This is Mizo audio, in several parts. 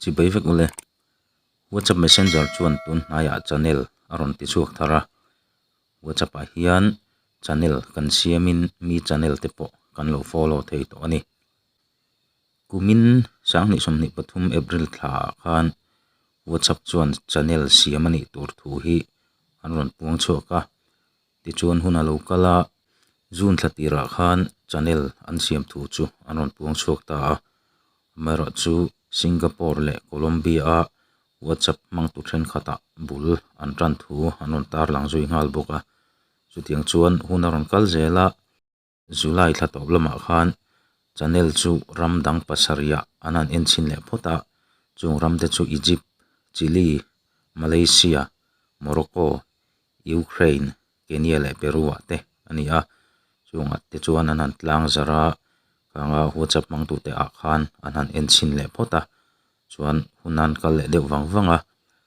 chibei vek mawle whatsapp messenger chuan tunhnai ah channel a rawn ti chhuak thar a whatsapp ah hian channel kan siam in mi channel te pawh kan lo follow thei tawh a ni kumin sang hnih sawmhnih pathum April thla ah khan whatsapp chuan channel siam a nih tur thu hi an rawn puang chhuak a. Tichuan hun a lo kal a, June thla tirah khan channel an siam thu chu an rawn puang chhuak ta a, amaherawhchu chu Singapore leh Colombia-a WhatsApp hmangtu thenkhatah bul an tan thu an rawn tarlang zui nghal bawk a, chutiang chuan hun a rawn kal zel a. July thla tawp lamah khan Chanel chu ram dang pasarihah an han en chhin leh phawt a, chung ram te chu Egypt, Chile, Malaysia, Morocco, Ukraine, Kenya leh Peru ah te a ni a, chung at te chuan an han tlang zarh a, khanga Whatsapp hmangtu te ah khan an han en chhin leh phawt a, chuan hun a han kal leh deuh vang vang a,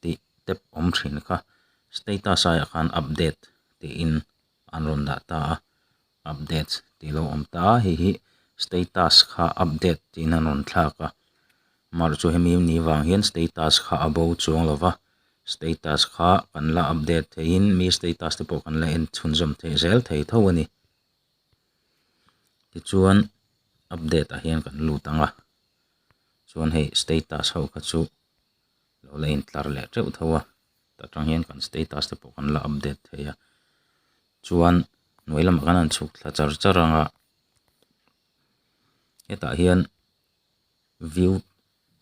tih tep awm thin kha. Status aiah khan update tiin an rawn dah ta a, updates tih lo awm ta a, heihi status kha update tiin an rawn thlak a, mar chu hemi ni vang hian status kha a bo chuang lo va, status kha kan la update theihin mi status te pawh kan la en chhunzawm thei zel thei tho a ni. Tichuan update ah hian kan lut ang a, chuan hei status ho kha chu. lo la intlar leh teuh tho a tah tang hian kan status te pawh kan la update thei a chuan hnuai lamah kan han chhuk thla char char ang a hetah hian view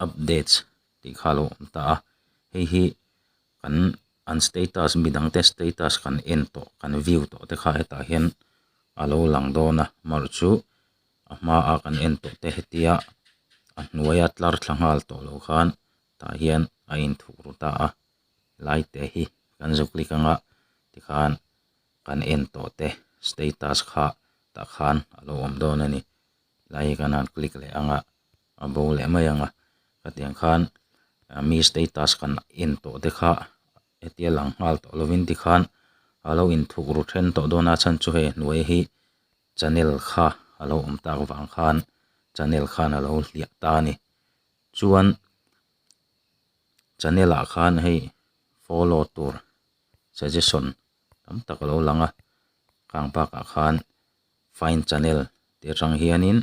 updates tih kha lo awm ta a hei hi kan an status mi dang te status kan en tawh kan view tawh te kha hetah hian a lo lang dawn a amaherawhchu-- a hma ah kan en tawh te hetia a hnuaia tlar thla nghal tawh loh khan tah hian a in thuk ru ta a lai te hi kan zuklik ang a tikhan kan en tawh te status kha tah khan a lo awm dawn a ni lai hi kan han click leh ang a a bo leh mai ang a hetiang khan mi status kan en tawh te kha hetia lang nghal tawh lovin tikhan a lo in thuk ru then tawh dawn a chhan chu hei a hnuai hi-- Chanel kha a lo awm tak vang khan Chanel khan a lo hliah ta a ni. Chuan Chanel ah khan hei follow tur suggestion tam tak a lo lang a, khang bakah khan find Chanel tih atang hianin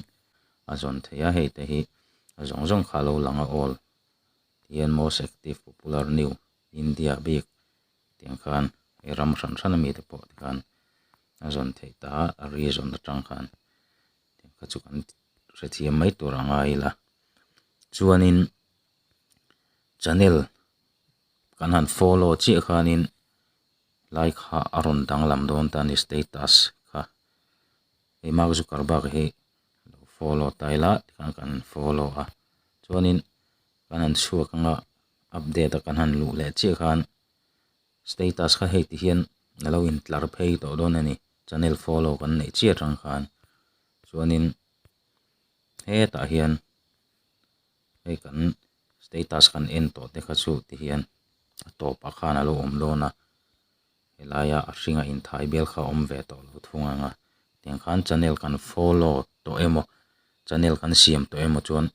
a zawn theih a, hei te hi zawng zawng kha a lo lang a all. TN most active popular new India bik. tiang khan hei ram hran hran ami te pawh tikhan a zawn theih ta a a rizawn atang khan tiang kha chu kan hrethiam mai tur a ngai ila chuanin channel kan han follow chiah khanin like kha a rawn danglam dawn ta a ni status kha hei mark zuckerberg hi lo follow ta ila tikhan kan follow a chuanin kan han chhuak anga. update a kan han luh leh chiah khan status kha hei ti hian a lo in tlar phei tawh dawn a ni channel follow kan neih chiah atang khan chuanin hetah hian hei kan status kan en tawh te kha chu ti hian a tawpah khan a lo awm dawn a. Helaia a hringa inthai bel kha awm ve tawh lo thung ang a, tiang khan channel kan follow tawh emaw, channel kan siam tawh emaw chuan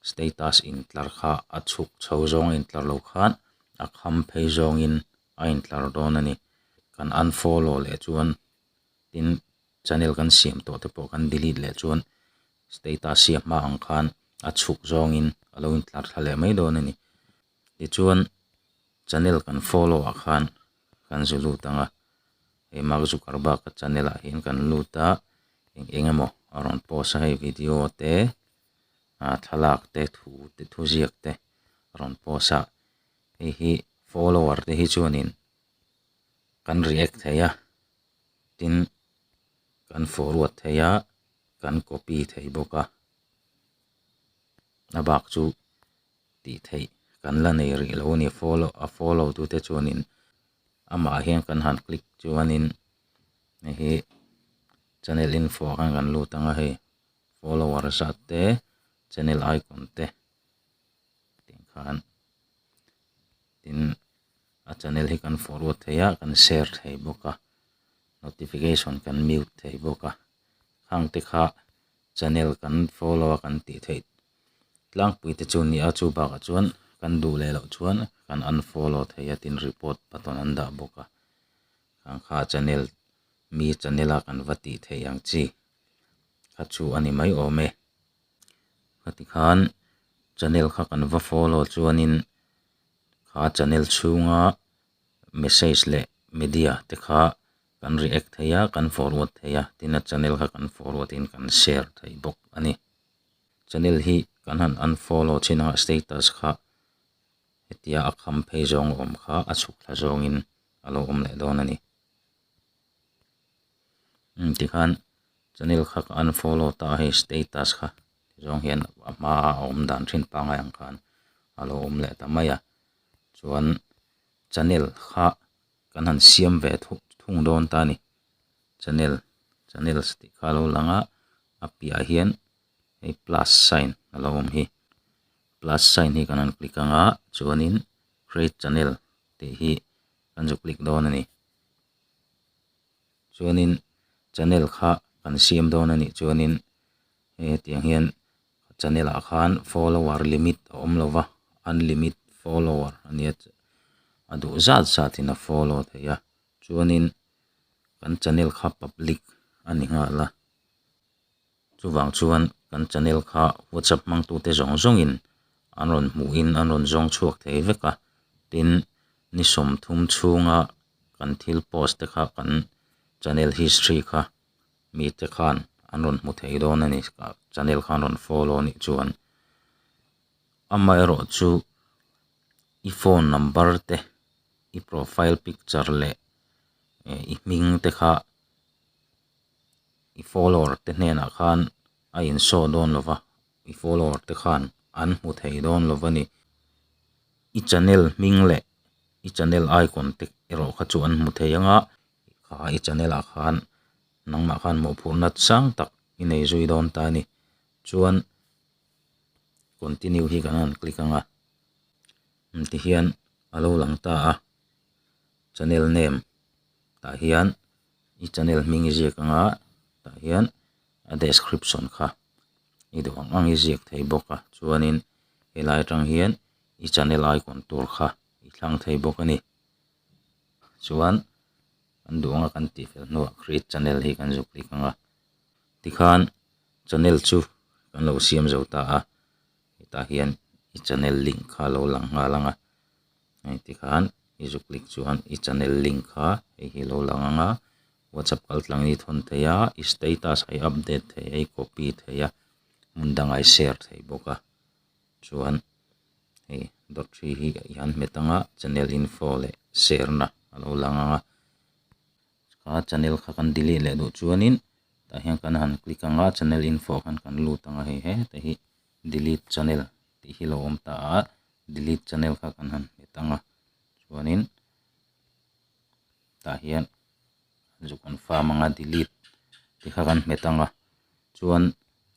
status intlar kha a chhuk chho zawng a intlar lo khan a kham phei zawngin a intlar dawn a ni. Kan unfollow leh chuan tin channel kan siam tawh te pawh kan delete leh chuan status siam hma ang khan a chhuk zawngin a lo intlar thla leh mai dawn a ni. Tichuan, channel kan follow ah khan kan zu lut ang a, hei Mark Zuckerberg ka channel ah hian kan lut a, eng eng emaw a rawn post a, hei video te, ah thlalak te, thu te, thu ziak te a rawn post a, hei hi follower te hi chuanin kan react thei a, tin kan forward thei a, kan copy thei bawk a, a bak chu tih theih kan la nei rih lo a ni. Follow a follow tu te chuanin amah hian kan han click chuanin hei hi channel info ah khan kan lut ang a hei follower zat te channel icon te tih khan tin a channel hi kan forward thei a kan share thei bawk a notification kan mute thei bawk a hang te kha channel kan follow a kan tih theih-- Tlangpuite chu ni a, chu bakah chuan kan duh leh loh chuan kan unfollow thei a tin report button an dah bawk a, ang kha channel mi channel a kan va tih theih ang chi kha chu a ni mai awm e. Kha ti khan channel kha kan va follow chuanin kha channel chhunga message leh media te kha kan react thei a, kan forward thei a, tin a channel kha kan forward in kan share thei bawk a ni. Channel hi kan han unfollow chin a, status kha hetia a kham phei zawng a awm kha a chhuk thla zawngin a lo awm leh dawn a ni. Tikhan channel kha ka unfollow ta a hei status kha ti zawng hian a hmaa a awm dan thin pangai ang khan a lo awm leh ta mai a. Chuan channel kha kan han siam ve thung dawn ta a ni. channel channels tih kha lo lang a a piahah hian hei plus sign a lo awm hi plus sign hi kan rawn click ang a chuanin create channel tih hi kan zu click dawn a ni chuanin channel kha kan siam dawn a nih chuanin hetiang hian channel ah khan follower limit a awm lo va unlimit follower a nia a duh zat zat in a follow theih a. chuanin kan channel kha public a ni nghal a chuvang chuan kan channel kha whatsapp hmangtute zawng zawngin an rawn hmuhin an rawn zawng chhuak thei vek a tin ni sawmthum chhunga kan thil post te kha kan channel history kha mite khan an rawn hmu thei dawn a ni channel kha an rawn follow anih chuan amaherawhchu i phone number te i profile picture leh i hming te kha i follower te hnenah khan a in show dawn lo va i follower te khan an hmu thei dawn lo va ni i channel hming leh i channel icon te erawh kha chu an hmu thei ang a kha i channel ah khan nangmah khan hmuh phur nat sang tak i nei zui dawn ta a ni chuan continue hi kan rawn click ang a. ti hian a lo lang ta a channel name tah hian i channel hming i ziak anga tah hian a description kha i duh ang ang i ziak thei bawk a chuanin he lai atang hian i channel icon tur kha i thlang thei bawk a ni chuan kan duh ang a kan tih fel hnuah create channel hi kan zuk hlik ang a tikhan channel chu kan lo siam zo ta a. hetah hian i channel link kha a lo lang nghal ang a hei tikhan i zuk klik chuan i channel link kha hei hi a lo lang ang a whatsapp kaltlang i thawn theih a i status a i update theih a i copy theih a hmun dangah i share theih bawk a chuan hei dawt ṭhi hi i han hmet ang a channel info leh share na a lo lang ang a. Ka channel kha kan delete leh duh chuanin tah hian kan han click anga channel info khan kan lut anga hei heta hi delete channel tih hi lo awm ta a delete channel kha kan han hmet anga chuanin tah hian zu confirm anga delete tih kha kan hmet anga chuan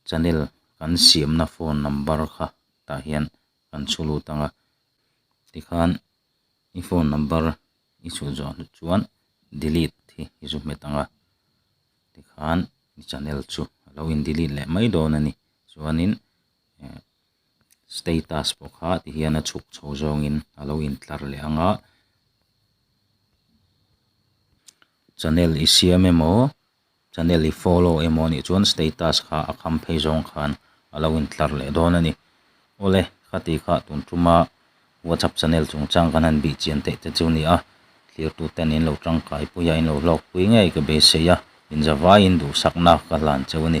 channel kan siamna phone number kha tah hian kan chhu lut anga tikhan i phone number i chhuh zawh hlut chuan delete hi i zu hmet ang a tikhan i channel chu a lo in delete leh mai dawn a ni chuanin ehh status pawh kha ti hian a chhuk chho zawngin a lo in tlar leh ang a channel i siam emaw-- Channel i follow emaw anih chuan status kha a kham phei zawng khan a lo intlar leh dawn a ni. Awle, khati kha tun tuma WhatsApp channel chungchang kan han bih chian theih te chu ni a, thlirtu ten in lo tangkaipui a, in lo hlawkpui ngei ka beisei a, inzavaiin duhsakna ka hlan cheu a ni.